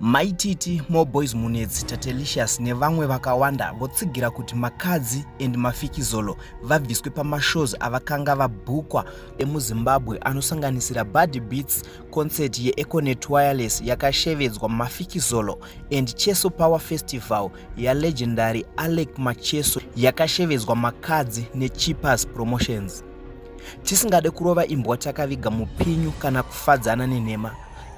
maititi more boys munetsi tatelicious nevamwe vakawanda votsigira kuti makadzi and mafikizolo vabviswe pamashows avakanga vabhukwa emuzimbabwe anosanganisira body beats concert yeeconet wireless yakashevedzwa mafikizolo and cheso power festival yalegendary alec macheso yakashevedzwa makadzi necheapers promotions tisingade kurova imbwa takaviga mupinyu kana kufadzana nenhema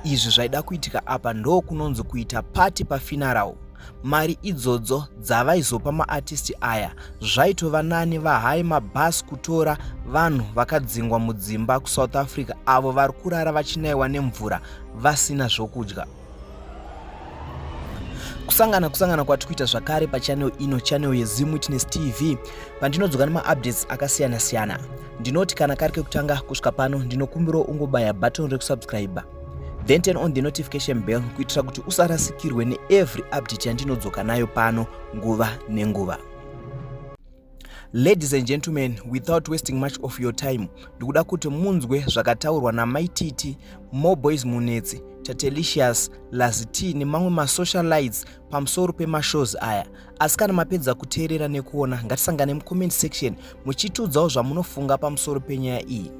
izvi zvaida kuitika apa ndo kunonzi kuita pati pafinarau mari idzodzo dzavaizopa maartisti aya zvaitova nani vahai mabhasi kutora vanhu vakadzingwa mudzimba kusouth africa avo vari kurara vachinaiwa nemvura vasina zvokudya kusangana kusangana kwatiri kuita zvakare pachanel ino chanel yezimu witness tv pandinodzoka nemaupdates akasiyana siyana ndinoti kana kari kekutanga kusvika pano ndinokumbirawo ungobaya button rekusubscribe then turn on the notification bell kuitira kuti usarasikirwe neevery update yandinodzoka nayo pano nguva nenguva Ladies and gentlemen, without wasting much of your time, ndikuda kuti munzwe zvakataurwa namai Titi, More Boys Munetsi, Tatelicious, Laziti nemamwe masocialites pamusoro pemashows aya. Asi kana mapedza kuteerera nekuona, ngatisangane mucomment section muchitiudzawo zvamunofunga pamusoro penyaya iyi.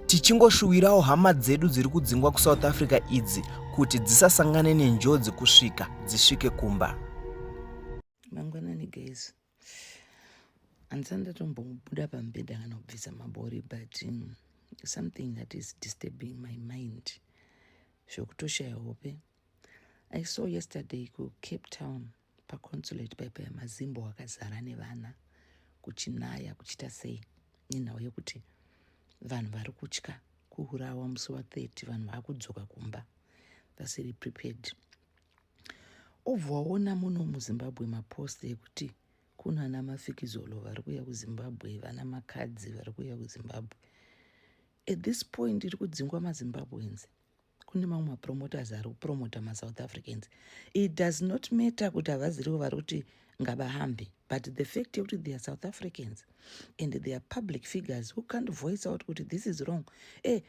Tichingoshuwirawo hama dzedu dziri kudzingwa kuSouth Africa idzi kuti dzisasangane nenjodzi kusvika dzisvike kumba. Mangwanani guys. handisa ndatombobuda pambeda kana kubvisa mabori but um, something that is disturbing my mind zvokutoshaya hope i saw yesterday kucape town paconsulate paipa yamazimbo wakazara nevana kuchinaya kuchita sei nenhau yekuti vanhu vari kutya kuurawa musi wa 30 vanhu vakudzoka kumba vasiri prepared obva waona muno muzimbabwe mapost ekuti kuno ana mafikizolo vari kuuya kuzimbabwe vana makadzi vari kuuya kuzimbabwe at this point iri kudzingwa mazimbabweans kune mamwe mapromoters ari kupromota masouth africans it does not matter kuti havazirivo vari kuti ngabahambe but the fact yekuti they are south africans and they are public figures who can't voice out kuti this is wrong e eh,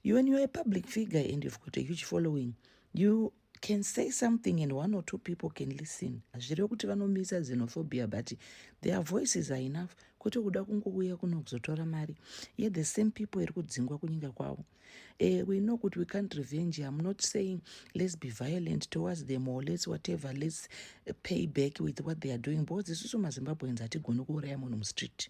You when you're a public figure and you've got a huge following, you can say something and one or two people can listen. Hazvirevi kuti vanomisa xenophobia but their voices are enough kwete kuda kungouya kuno kuzotora mari ye the same people iri kudzingwa kunyika kwavo. Uh, we know kuti we can't revenge. I'm not saying let's be violent towards them or let's whatever, let's pay back with what they are doing because isusu maZimbabweans hatigoni kuuraya munhu mustreet.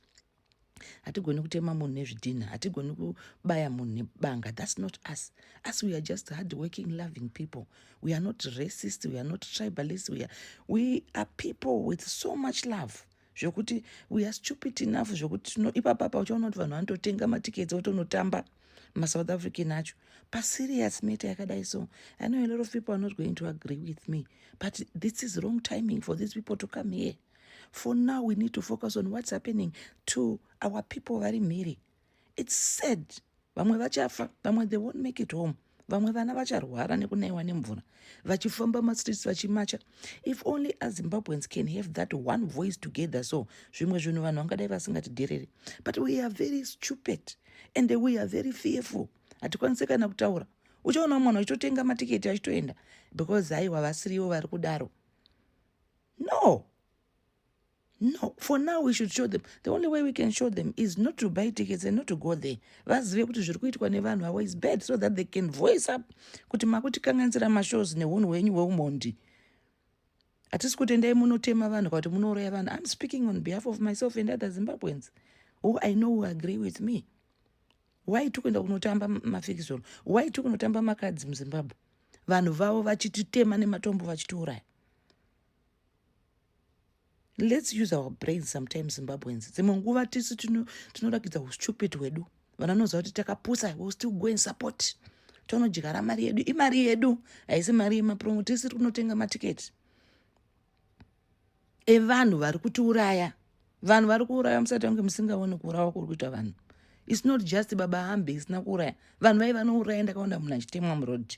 hatigoni kutema munhu nezvidhinha hatigoni kubaya munhu nebanga thats not us us we are just hard working loving people we are not racist we are not tribalist we are, we are people with so much love zvekuti we are stupid enough zvekuti tino ipapa pa uchaona kuti vanhu vanototenga matiketsi otonotamba masouth african acho paserious meta yakadai so i know a lot of people are not going to agree with me but this is wrong timing for these people to come here for now we need to focus on what's happening to our people vari mhiri its sad vamwe vachafa vamwe they won't make it home vamwe vana vacharwara nekunaiwa nemvura vachifamba mastreets vachimacha if only azimbabweans can have that one voice together so zvimwe zvinhu vanhu vangadai vasingatidherere but we are very stupid and we are very fearful hatikwanise kana kutaura uchaona mwana uchitotenga matiketi achitoenda because haiwa vasiriwo vari kudaro no no for now we should show them the only way we can show them is not to buy tickets and not to go there vazive kuti zviri kuitwa nevanhu avo is bad so that they can voice up kuti makutikanganisira mashows neunhu hwenyu hweumondi hatisi kuti endai munotema vanhu kakuti munoroya vanhu iam speaking on behalf of myself and other zimbabweans who i know who agree with me why tiri kuenda kunotamba mafikizolo why tiri kunotamba makadzi muzimbabwe vanhu vavo vachititema nematombo vachitiuraya lets use our brains sometimes zimbabweans dzimwe nguva tisu tinorakidza tino ustupid hwedu vana vanoziva kuti takapusa will still go and support tonodyara mari yedu imari yedu haisi mari yemapromo tisiri kunotenga matiketi evanhu vari kutiuraya vanhu vari kuuraya musati vange musingaone kuurawa kuri kuita vanhu its not just baba hambe isina kuuraya vanhu vai vanouraya ndakaona munhu achitemwa muroad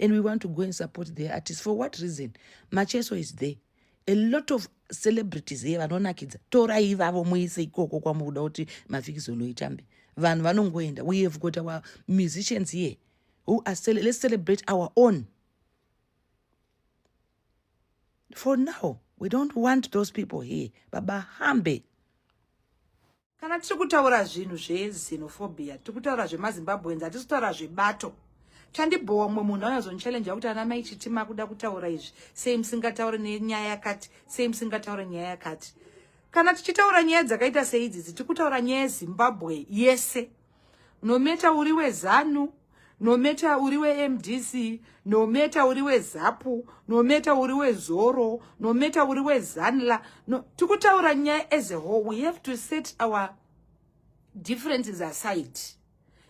and we want to go and support the artist for what reason macheso is there a lot of celebrities here vanonakidza torai ivavo muise ikoko kwamukuda kuti mafikizolo itambe vanhu vanongoenda we have got our musicians here who are let's celebrate our own for now we don't want those people here baba hambe kana tiri kutaura zvinhu zvezenophobia tiri kutaura zvemazimbabweans hatisi kutaura zvebato chandibhowa mumwe munhu anozondichalenja kuti ana mai chiti makuda kutaura izvi sei musingataure nenyaya yakati sei musingataure nyaya yakati kana tichitaura nyaya dzakaita seidzidzi tiri kutaura nyaya yezimbabwe yese yes. no matter uri wezanu no matter uri wemdc no matter uri wezapu no matter uri wezoro no matter uri wezanla no, tikutaura nyaya as a whole we have to set our differences aside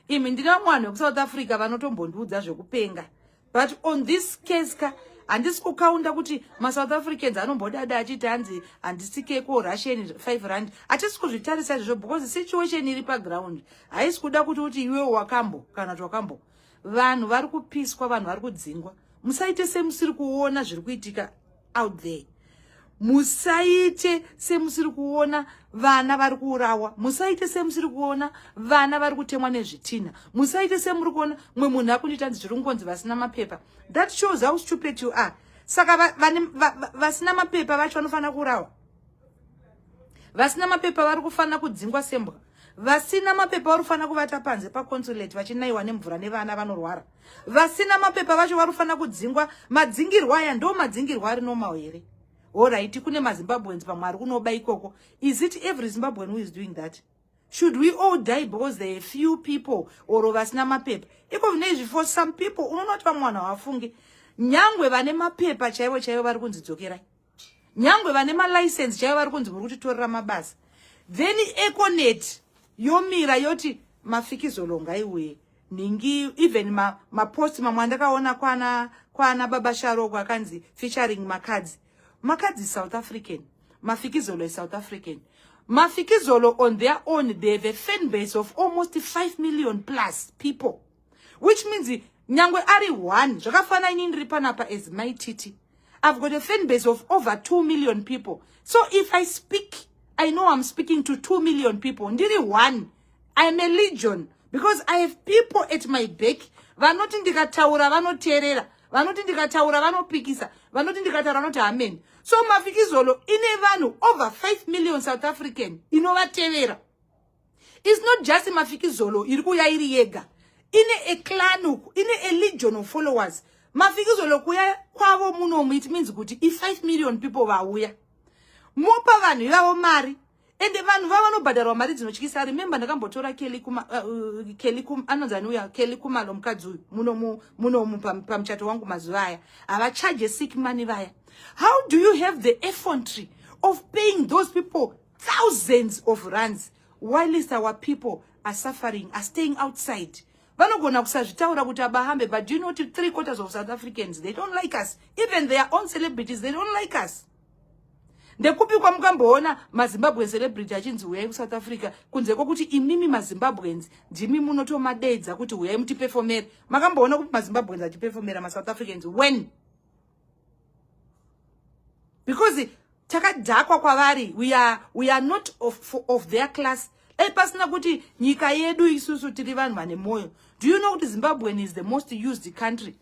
imi ndine vamwe vanhu vekusouth africa vanotombondiudza zvekupenga but on this case ka handisi kukaunda kuti masouth africans anombodada achiti hanzi handisike ko russian five rand hatisi kuzvitarisa izvozvo because situation iri paground haisi kuda kuti kuti iwe wakambo kana kuti wakambo vanhu vari kupiswa vanhu vari kudzingwa musaite semusiri kuona zviri kuitika out there musaite semusiri kuona vana vari kuurawa musaite semusiri kuona vana vari kutemwa nezvitinha musaite semuri kuona mumwe munhu akundiita nzi zviri kungonzi vasina mapepa that shows how stupid you are saka vasina mapepa vacho vanofanira kuurawa vasina mapepa vari kufanira kudzingwa sembwa vasina mapepa vari kufanira kuvata panze paconsulate vachinaiwa nemvura nevana vanorwara vasina mapepa vacho vari kufanira kudzingwa madzingirwo aya ndo madzingirwo ari normal here horaiti kune mazimbabweans pamwe ari kunoba ikoko is it every zimbabwean who is doing that should we all die because there are few people or vasina mapepa iko vine izvi for some people unonoti vamwe vanhu havafunge nyangwe vane mapepa chaivo chaivo vari kunzi dzokerai nyangwe vane malicense chaivo vari kunzi muri kutitorera mabasa then econet yomira yoti mafikizolonga iwee nhingi even mapost ma mamwe andakaona kwana kwana baba sharoko akanzi featuring makadzi makadzi south african mafikizolo isouth african mafikizolo on their own they have a fan base of almost 5 million plus people which means nyangwe ari one zvakafana ini ndiri panapa as my titi i've got a fan base of over two million people so if i speak i know i'm speaking to two million people ndiri one i'm a legion because i have people at my back vanoti ndikataura vanoteerera vanoti ndikataura vanopikisa vanoti ndikataura vanoti hameni so mafikizolo ine vanhu over 5 million south african inovatevera is not just mafikizolo iri kuuya iri yega ine a clan uku ine a legion of followers mafikizolo kuya kwavo munomu it means kuti i5 million people vauya mopa vanhu ivavo mari ende vanhu vavo vanobhadharwa mari dzinotyisa remember ndakambotora kelly kuma uh, uh kelly kum anonzi anuya kelly kumalo mukadzi uyu munomu munomu pamuchato wangu mazuva aya havacharge sick money vaya how do you have the effrontery of paying those people thousands of runs whilst our people are suffering are staying outside vanogona kusazvitaura kuti abahambe but do you know kuti three quarters of south africans they don't like us even their own celebrities they don't like us ndekupi kwamukamboona mazimbabwen celebrity achinzi huyai kusouth africa kunze kwokuti imimi mazimbabwens ndimi munotomadeidza kuti huyai mutipefomere makamboona kupi mazimbabwens achipefomera masouth africans when because takadhakwa kwavari we are, we are not of, of their class dai pasina kuti nyika yedu isusu tiri vanhu vane mwoyo do you know kuti zimbabwean is the most used country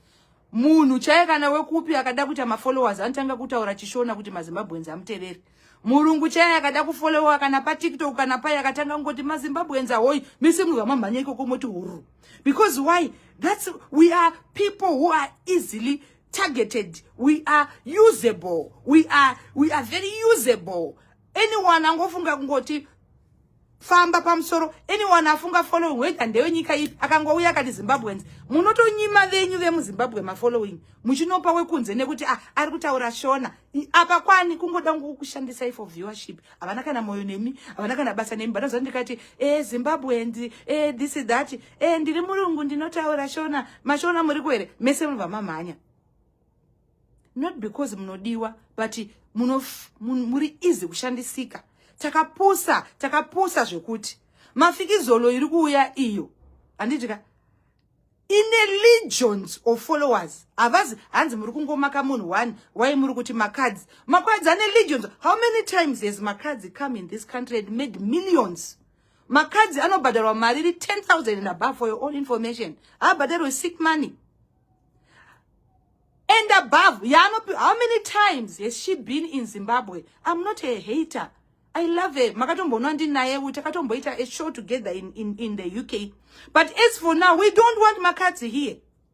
munhu chaiye kana wekupi akada kuita mafollowers anotanga kutaura chishona kuti mazimbabweans amuteveri murungu chaiye akada kufollowa kana patiktok kana pai akatanga kungoti mazimbabweans ahoyi mese munhu vamamhanya ikoko moti hururu because why thats we are people who are easily targeted we are usable we are, we are very usable anyone angofunga kungoti famba pamusoro anyone afunga following whether ndewenyika ipi akangouya akati zimbabweans munotonyima venyu vemuzimbabwe mafollowing muchinopa wekunze nekuti ah, ari kutaura shona apa kwani kungoda ngokushandisai for viewership havana kana moyo nemi havana kana basa nemi banoza ndikati e eh, zimbabweans e eh, this that e ndiri murungu ndinotaura shona mashona muri kuhere mese munobva mamhanya not because munodiwa but muri easy kushandisika takapusa takapusa zvekuti mafikizolo iri kuuya iyo handiti ka ine legions of followers havazi hanzi muri kungomaka munhu one why muri kuti makadzi makadzi ane legions how many times has makadzi come in this country and made millions makadzi anobhadharwa mari iri 10000 and above for your own information haabhadharwe sick money and above yaanopi how many times has she been in zimbabwe i'm not a hater i love her makatombonwa ndinaye uyu takatomboita a show together in, in, in the uk but as for now we don't want makadzi here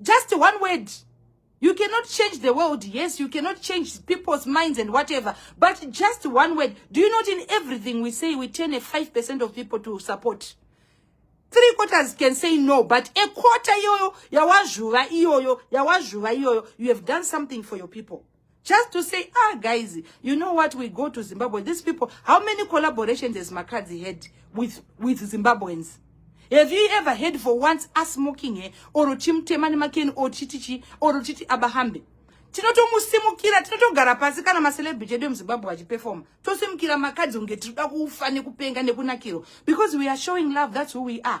just one word you cannot change the world yes you cannot change people's minds and whatever but just one word do you not in everything we say we turn a 5 percent of people to support three quarters can say no but a quarter iyoyo yawazvuva iyoyo yawazvuva iyoyo you have done something for your people just to say ah guys you know what we go to zimbabwe these people how many collaborations has makadzi had with, with zimbabweans have you ever heard for once asmoking he or chimutema nemakeni or chitichi or chiti abahambe tinotomusimukira tinotogara pasi kana macelebrity edu emuzimbabwe vachiperfoma tosimukira makadzi kunge tiri kuda kufa nekupenga nekunakirwa because we are showing love that's who we are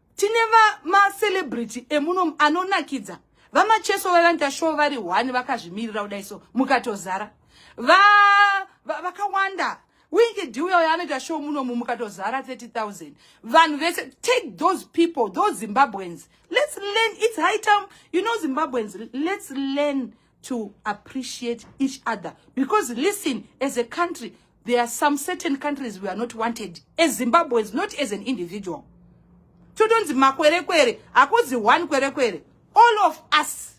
tine macelebrity emuno anonakidza vamacheso vavanoita show vari one vakazvimirira kudai so mukatozara vakawanda va, va wiki dhiuya uyo anoita show munomu mukatozara 30000 vanhu vese take those people those zimbabweans let's learn its high time you know zimbabweans let's learn to appreciate each other because listen as a country there are some certain countries we are not wanted as zimbabweans not as an individual totonzi makwerekwere hakuzi one kwerekwere all of us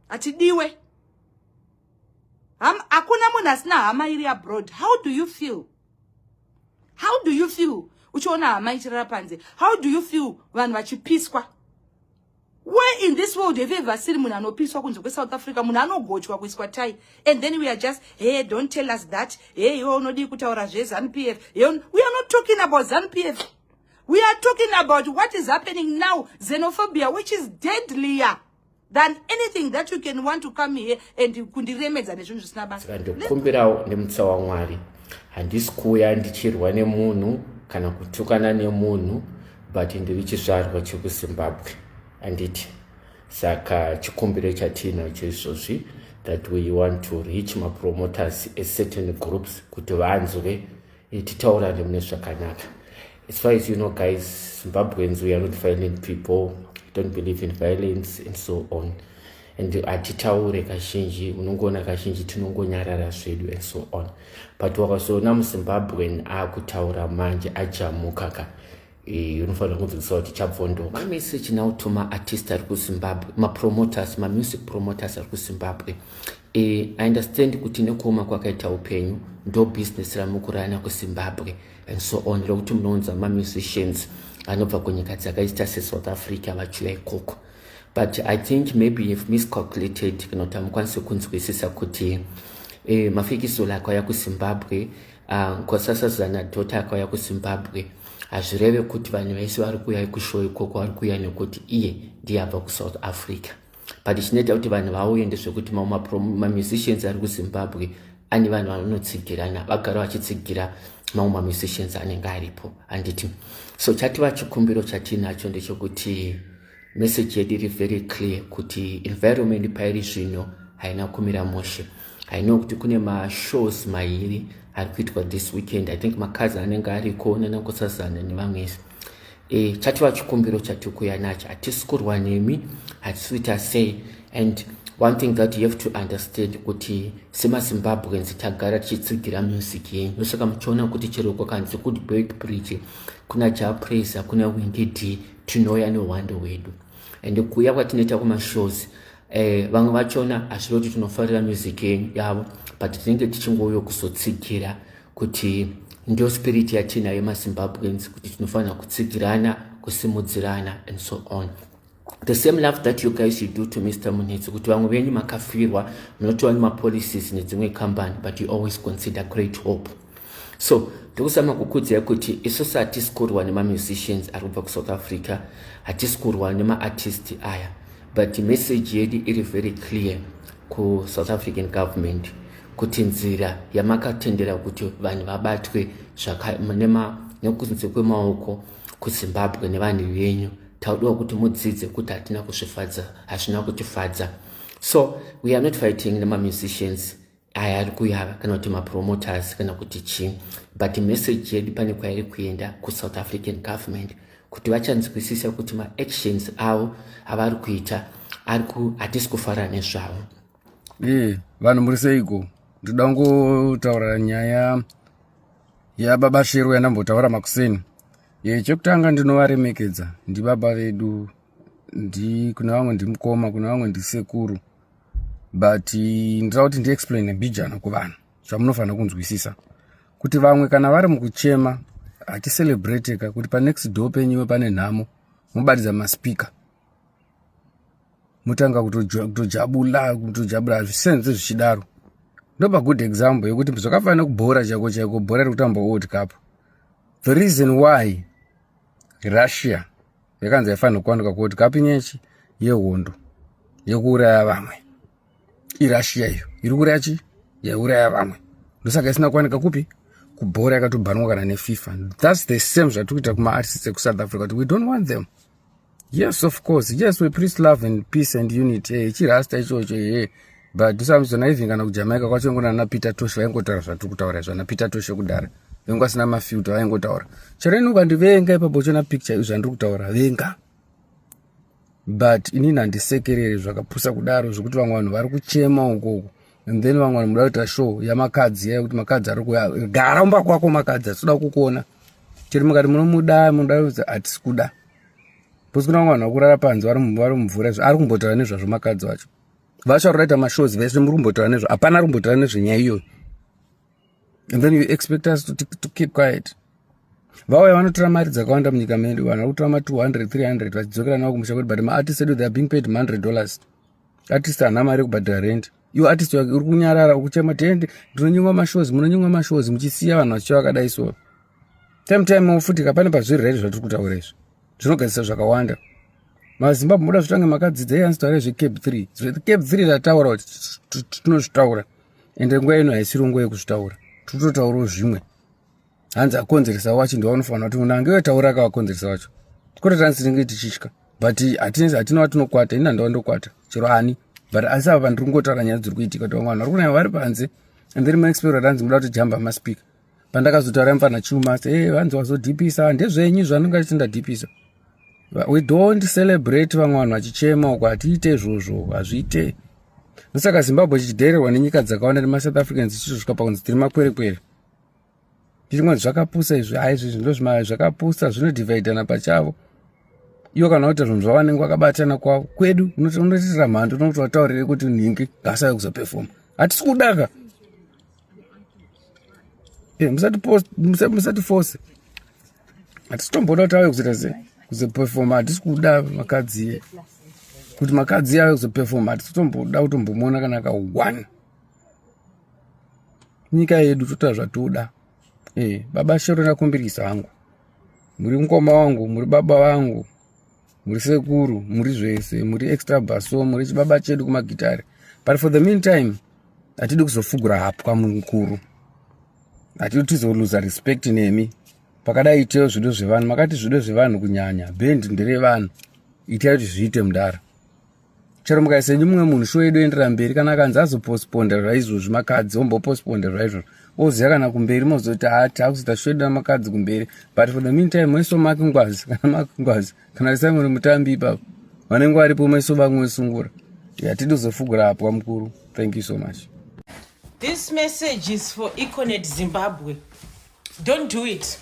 hatidiwe hakuna munhu asina hama iri abroad how do you feel how do you feel uchiona hama ichirara panze how do you feel vanhu vachipiswa Where in this world have you ever seen munhu anopiswa kunze kweSouth Africa, munhu anogochwa kuiswa tai, and then we are just, hey, don't tell us that, hey, iwe unodii kutaura zveZanu PF, hey, we are not talking about Zanu PF. We are talking about what is happening now, xenophobia, which is deadlier than anything that you can want to come here and kundiremedza nezvinhu zvisina basa. Saka ndokumbirawo nemutsa waMwari, handisi kuuya ndichirwa nemunhu kana kutukana nemunhu but ndiri chizvarwa chekuzimbabwe anditi saka chikumbiro chatinacho izvozvi that we want to reach mapromoters ecertain groups kuti vanzwe eh, titaurane mune zvakanaka as far as you know guys zimbabweans we are not violent people don't believe in violence and so on and hatitaure kazhinji unongoona kazhinji tinongonyarara zvedu and so on but wakazoona muzimbabwen akutaura manje ajamuka ka eh, unofanira kunzwisisa kuti chabvondoka mameseji nawo to maartist ari kuzimbabwe mapromoters mamusic promoters ari kuzimbabwe eh, i understand kuti nekuoma kwakaita upenyu ndo business ramukurana kuzimbabwe and so on rekuti munounza mamusicians anobva kunyika dzakaita sesouth africa vachiuya ikoko but i think maybe you've miscalculated kana kuti hamukwanisi kunzwisisa kuti eh, mafikisolo akauya kuzimbabwe ah, nkosasazana uh, dhota akauya kuzimbabwe hazvireve kuti vanhu vese vari kuuya ikushow ikoko vari kuuya nekuti iye ndiye abva kusouth africa but chinoita kuti vanhu vauye ndezvekuti mamusicians ari kuzimbabwe ani vanhu vanotsigirana vagara vachitsigira mamwe mamusicians anenge aripo handiti so chativa chikumbiro chatiinacho ndechokuti meseji yedu iri very clear kuti environment pairi zvino haina kumira mushe hainoo kuti kune mashows mairi ari kuitwa this weekend i think makazi anenge ariko nanakosazana nevamwese e, chatova chikumbiro chatiri kuya nacho hatisi kurwa nemi hatisi kuita sei and one thing that you have to understand kuti semazimbabweans tagara tichitsigira music yenyu ndosaka muchiona kuti chero kwakanzi kuti bake bridge kuna japraiser kuna wingid tinouya nehwando hwedu and kuuya kwatinoita kumashows eh, vamwe vachona hazviro kuti tinofarira music yenyu yavo but tinenge tichingouyo kuzotsigira kuti ndio spirit yatinayo mazimbabweans kuti tinofanira kutsigirana kusimudzirana and so on the same love that you guys you do to mr munetsi kuti vamwe venyu makafirwa munotiwa nemapolicies nedzimwe company but you always consider great hope so ndokusama kukudzai kuti isusu hatisi kurwa nemamusicians ari kubva kusouth africa hatisi kurwa nemaartist aya but message yedu iri very clear kusouth african government kuti nzira yamakatendera kuti vanhu vabatwe nekunze kwemaoko kuzimbabwe nevanhu venyu taudiwa kuti mudzidze kuti hatina kuzvifadza hazvina kutifadza so we are not fighting nemamusicians aya ari kuyava kana kuti mapromoters kana kuti chii but message yedu pane kwairi kuenda kusouth african government kuti vachanzwisisa kuti maactions avo avari kuita hatisi kufara nezvavo Eh, vanhu muri seiko ndoda kungotaura nyaya yababa shero yandambotaura makuseni e, chekutanga ndinovaremekedza ndibaba vedu ndi kune vamwe ndimukoma kune vamwe ndisekuru but eh, ndoda kuti ndiexplaine mbijana kuvanhu zvamunofanira kunzwisisa kuti vamwe kana vari mukuchema haticelebrate ka kuti panext door penyuwe pane nhamo mobatidza maspeaker motanga kutojabula kutojabula hazvisenze zvichidaro ndopa good example yekuti zvakafanira kubhora chaiko chaiko bhora riri kutamba world cup the reason why russia yakanzi haifanira kuwanika kuworld cup inyechi yehondo yekuuraya vamwe irussia iyo iri kuraya chi yaiuraya vamwe ndosaka isina kuwanika kupi kubhora yakatobhanwa kana nefifa thats the same zvatiri kuita kumaartists ekusouth africa kuti we don't want them yes of course yes we preach love and peace and unity hey, eh, chirasta ichocho hee eh. but ndisamizona even kana kujamaica kwacho ingona ana peter tosh vaingotaura zvatiri kutaura izvo ana peter toshe kudhara vengu asina mafilta vaingotaura chero ini ukandivenga ipapo chona picture izvo zvandiri kutaura venga but inini handisekereri zvakapusa kudaro zvekuti vamwe vanhu vari kuchema ukoko and then vamwe vanoda kuita show yamakadzi yaya kuti makadzi ari kuya gara umba kwako makadzi atinoda kukuona chero mukati munomuda munoda kuti hatisi kuda bcause kuna vamwe vanhu vakurara panze vari mumvura izvo ari kumbotaura nezvazvo makadzi vacho vacho ari kuita mashows vese muri kumbotaura nezvo hapana ari kumbotaura nezvenyaya iyoyo and then you expect us to, to keep quiet vauya vanotora mari dzakawanda munyika medu vanhu vakutora ma 200 300 vachidzokera navo kumusha kwedu but maartist edu they are being paid 100 dollars artist hana mari yekubhadhira rent iwe artist wake uri kunyarara ukuchema tiende ndinonyimwa mashows munonyimwa mashows muchisiya vanhu vachicha vakadai so time time ofutika pane pazviri redi zvatiri kutaura izvi zvinogadzisa zvakawanda mazimbabwe moda zvotange makadzidza iyanzi taura zvecape 3 zvecape 3 tataura kuti tinozvitaura ende nguva ino haisiri nguva yekuzvitaura tototaurawo zvimwe hanzi akonzeresa wacho ndiwa unofanira kuti munhu ange wetaura akawakonzeresa wacho kwete tani tinenge tichitya but hatina watinokwata ini handawa ndokwata chero ani but asi apa pandiri kungotaura nyaya dziri kuitika kuti vamwe vanhu vari kunaya vari panze and then maexpero tanzi muda kuti jamba maspika pandakazotaura mfana chuma e eh, vanzi wazodhipisa ndezvenyu zvanonga chiti ndadhipisa we don't celebrate vamwe vanhu vachichema uko hatiite izvozvo hazviite ndosaka zimbabwe chichidhererwa nenyika dzakawanda nemasouth africans zichisvika pakunzi tiri makwerekwere tirimwe zvakapusa izvi ha izvizvi ndozvima zvakapusa zvinodhivhaidhana pachavo iwo kana kuti zvinhu zvavanenge vakabatana kwavo kwedu unotiitira mhando unokuti vataurire kuti nhingi ngaasave kuzopefoma hatisi kudaka Eh, musati force hatitomboda kuti ave kuzoita se kuzopefoma hatisi kuda makadzi iye kuti makadzi iye ave kuzopefoma hatisitomboda kutombomuona kana ka one nyika yedu totoa zvatoda e eh, baba shero ndakumbirisa hangu muri mukoma wangu muri baba vangu muri sekuru muri zvese muri extra baso muri chibaba chedu kumagitare but for the meantime hatidi kuzofugura hapwa mukuru hatidi tizoluza respect nemi pakadai iteyo zvido zvevanhu makati zvido zvevanhu kunyanya bend nderevanhu itai kuti zviite mudara chero mukaisa imwe munhu sho yedu endera mberi kana akanzi azopostponda zvaizvozvi makadzi ombopostponda zvaizvozvo oziva kana kumberi mozoti hati akuzoita sho yedu namakadzi kumberi but for the mean time maiso make ngwazi kana make ngwazi kana risango remutambi ipapo vanenge varipo maiso vamwe vesungura yatidi kuzofugura apwa mukuru thank you so much this message is for econet zimbabwe don't do it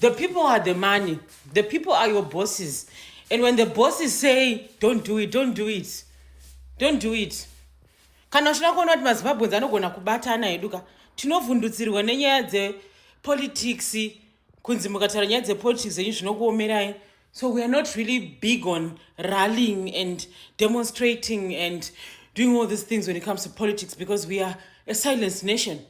The people are the money. The people are your bosses. And when the bosses say, don't do it, don't do it, don't do it. Kana uchida kuona kuti maZimbabweans anogona kubatana hedu ka tinovhundutsirwa nenyaya dzepolitics kunzi mukataura nyaya dzepolitics zenyu zvinokuomerai so we are not really big on rallying and demonstrating and doing all these things when it comes to politics because we are a silence nation